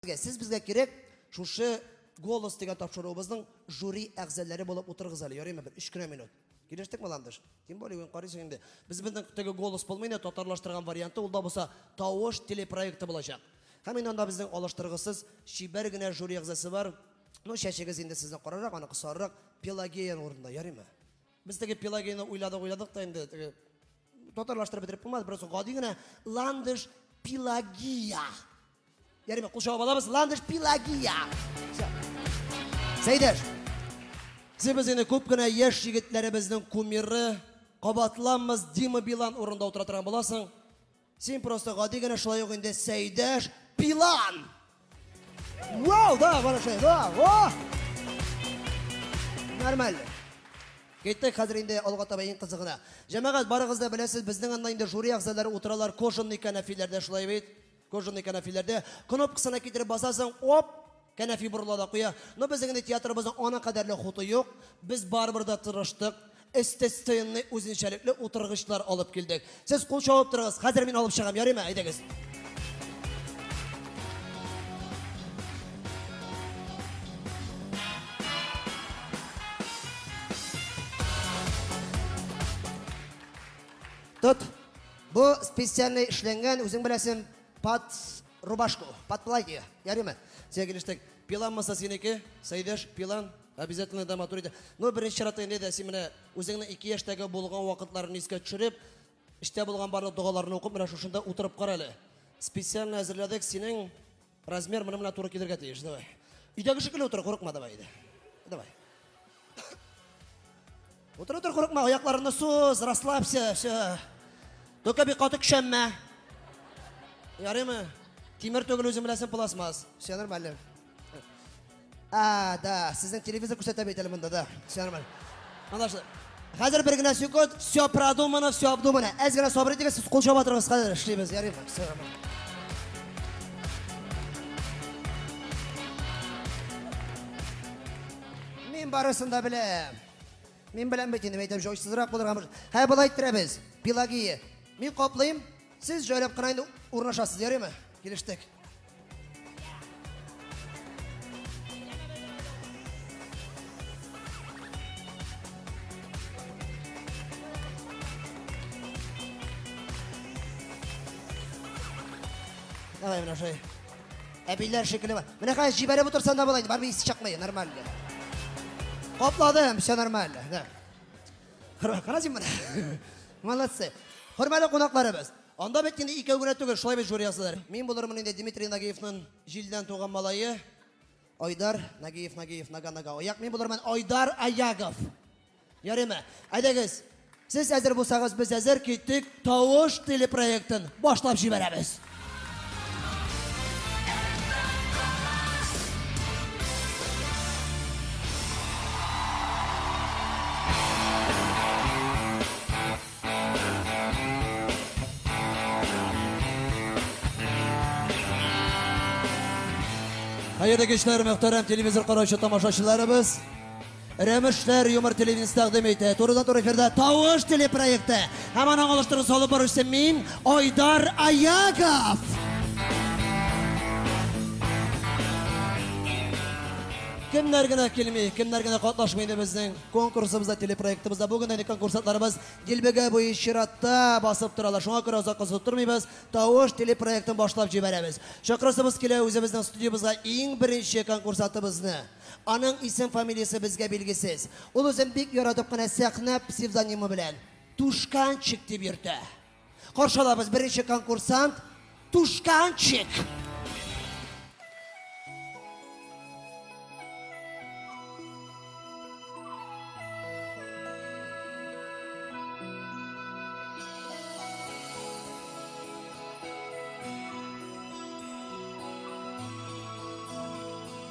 Сезгә, сез безгә кирәк, шушы Голос дигән тапшыруыбызның жюри әгъзалары булып утырыгыз әле, ярыймы бер 3 кенә минут. Килештекме, Ландыш? Тем более, гөн карыйсың инде. Без безнең теге голос булмый инде, татарлаштырган варианты, ул да булса тавыш телепроекты булачак. Һәм инде анда безнең алыштыргысыз чибәр генә жюри әгъзасы бар. Ну, чәчегез инде сезнең карарак, аныкы сарырак, Пелагея урында, ярыймы? Без теге Пелагеяны уйладык-уйладык та инде, теге татарлаштырып бетереп булмас, просто гади генә Ландыш Пелагия. Ярыймы, кул чабып алабыз, Ландыш Пелагия. Сәйдәш, сез без инде күп кенә яшь егетләребезнең кумиры, кабатланмас Дима Билан урында утыра торган буласың. Син просто гади генә шулай ук инде Сәйдәш Пилан! Вау, да, бара шулай, да, о! Нормально. Киттек хәзер инде алга таба иң кызыгына. Җәмәгать, барыгыз да беләсез, безнең анда инде жюри әгъзалары утыралар кожаный кәнәфиләрдә шулай бит. Кожаный кәнәфиләрдә кнопкасына китереп басасың, оп, Кәнәфи борыла да куя. Но безнең инде театрыбызның ана кадәрле хуты юк. Без барыбер дә тырыштык. Эстетсценный үзенчәлекле утыргычлар алып килдек. Сез кул чабып торыгыз. Хәзер мин алып чыгам, ярыймы? Әйдәгез. Тот. Бу специальный эшләнгән, үзең беләсең, пац Рубашку, подплатье, ярыймы? Сиңа килештек. Пилан маса синеке, Сәйдәш, пилан. Обязательно да матур иде. Ну, беренче чиратта инде дә син менә үзеңнең ике яшьтәге булган вакытларны искә төшереп, эчтә булган барлык догаларны укып, менә шушында утырып кара әле. Специально әзерләдек синең размер менә менә туры килергә тиеш. Давай. Өйдәге шикелле утыр, курыкма, давай. Давай. Утыр, утыр, курыкма, аякларыңны суз, расслабься, все. Только бик каты көчәнмә. Ярыймы? Тимер түгел үзең беләсең пластмасс. Все нормально. А, да, сезнең телевизор күрсәтә бит әле монда да. Все нормально. Анлашлы. Хәзер бер генә секунд, все продумано, все обдумано. Әз генә сабыр итегез, сез кул чаба торыгыз, хәзер эшлибез, ярыймы? Все нормально. Мин барысын да беләм. Мин беләм бит инде, әйтәм, җайсызрак булырга мөмкин. Һә, болай иттерәбез. Пелагия, мин каплыйм, сез җайлап кына инде урнашасыз, ярыймы? Килештек. Давай, Миношей. Әбиләр шикелле бар. Менә хәзер җибәреп утырсаң да болай, бармы исе чыкмый, нормально. Капладым, все нормально. Да. Карасың менә. Молодцы. Хөрмәтле кунакларыбыз. Анда бит инде икәү генә түгел, шулай бит жюри ясадылар. Мин булырмын инде Дмитрий Нагиевның җилдән туган малае. Айдар Нагиев, Нагиев, Нага, Нага. Аяк мин булырмын Айдар Аягов. Ярыймы? Әйдәгез, сез әзер булсагыз, без әзер киттек, Тавыш телепроектын башлап җибәрәбез. Хәерле кичләр, мөхтәрәм телевизор караучы тамашачыларыбыз. Рәмешләр юмор телевидениесе тәкъдим итә. Турыдан-туры эфирда Тавыш телепроекты һәм аның алыштыргыч алып баручысы мин, Айдар Аягов. Кемнәр генә килми, кемнәр генә катнашмый инде безнең конкурсыбызда, телепроектыбызда. Бүген әле конкурсантларыбыз дилбегә буе чиратта басып торалар. Шуңа күрә озак кызу тормыйбыз, тавыш телепроектын башлап җибәрәбез. Чакырасыбыз килә үзебезнең студиябызга иң беренче конкурсатыбызны. Аның исем-фамилиясе безгә билгесез. Ул үзен бик яратып кына сәхнә псевдонимы белән Тушканчик дип йөртә. Каршы алабыз беренче конкурсант Тушканчик.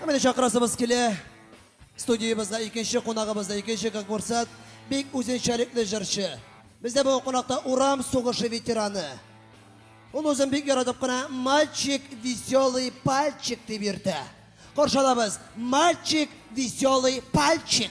Ә менә чакырасыбыз килә. Студиябезгә икенче кунагыбыз да икенче конкурсант, бик үзенчәлекле җырчы. Бездә бу кунакта урам сугышы ветераны. Ул үзен бик яратып кына Мальчик веселый пальчик дип йөртә. Каршы алабыз, Мальчик веселый пальчик.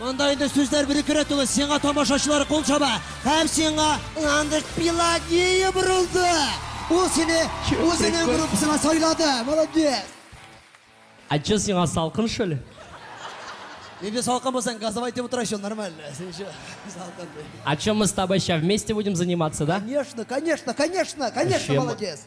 Монда инде сүзләр бирекерә түгел, сиңа тамашачылары кул чаба һәм сиңа Ландыш Пелагея борылды. Ул сине үзенең группасына сайлады. Молодец! Ә чын сиңа салкын шул? Инде салкын булсаң, газовай итеп утыра чул, нормаль. Син чо, салкын. А чё мы с тобой сейчас вместе будем заниматься, да? Конечно, конечно, конечно, конечно, молодец.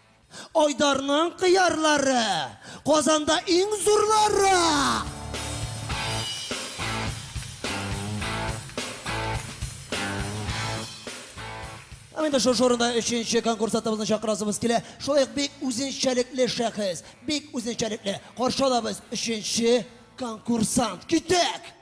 Айдарның кыярлары, Казанда иң зурлары! Һәм инде шушы урында өченче конкурс атыбызны чакырасыбыз килә. Шулай ук бик үзенчәлекле шәхес, бик үзенчәлекле. Каршы алабыз өченче конкурсант. Китәк!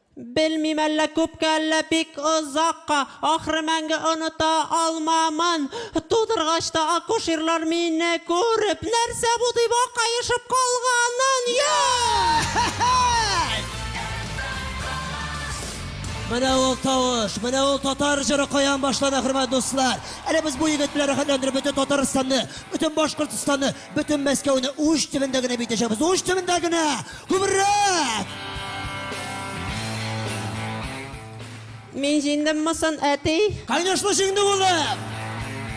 Белмим, әллә күпкә, әллә бик озакка, Ахры, мәңге оныта алмамын. Тудыргач та акушерлар мине күреп, Нәрсә бу, дип акаешып калганын, йа-һе-һе-й! Менә ул тавыш, менә ул татар җыры каян башлана, хөрмәт дуслар! Әле без бу егет белән рәхәтләндереп бөтен Татарстанны, бөтен Башкортстанны, бөтен Мәскәүне уч төбендә генә битәчәкбез, уч төбендә генә! Күбрәк! Мин җиңдем мосын, әти? Конечно җиңде улым!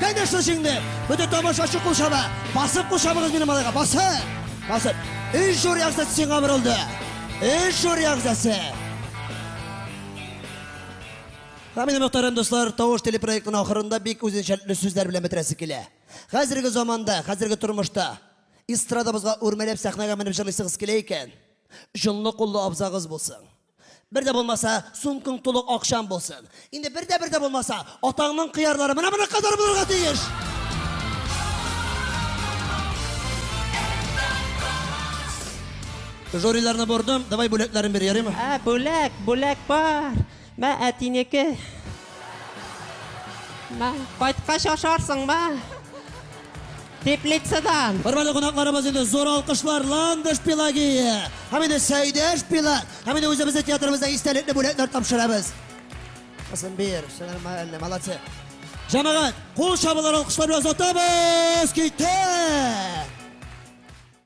Конечно җиңде! Бөтен тамашачы кул чаба! Басып кул чабыгыз минем малайга! Басып! Басып! Өч җур ягъзасы сиңа борылды! Өч җур ягъзасы! Һәм минем мөхтәрәм дуслар, Тавыш телепроектының ахырында бик үзенчәлекле сүзләр белән бетерәсе килә. Хәзерге заманда, хәзерге тормышта Эстрадабызга үрмәләп сәхнәгә менеп җырлыйсыгыз килә икән, җонлы куллы абзагыз булсын. Бер дә булмаса, сумкаң тулы акчаң булсын. Инде бер дә бер дә булмаса, атаңның кыярлары менә моның кадәр булырга тиеш. Жюриларны бордым, давай бүләкләрен бир, ярыймы? Ә, бүләк, бүләк бар. Мә, әтинеке. Мә, кайткач ашарсың, мә. Теплицадан. Хөрмәтле кунакларыбыз инде зур алкышлар Ландыш Пелагия һәм инде Сәйдәш Пила һәм инде үзебезнең театрыбызда истәлекле бүләкләр тапшырабыз. Кызым бир, сәлам әллә, молодцы. Җәмәгать, кул чабулар алкышлар белән озатабыз, китә!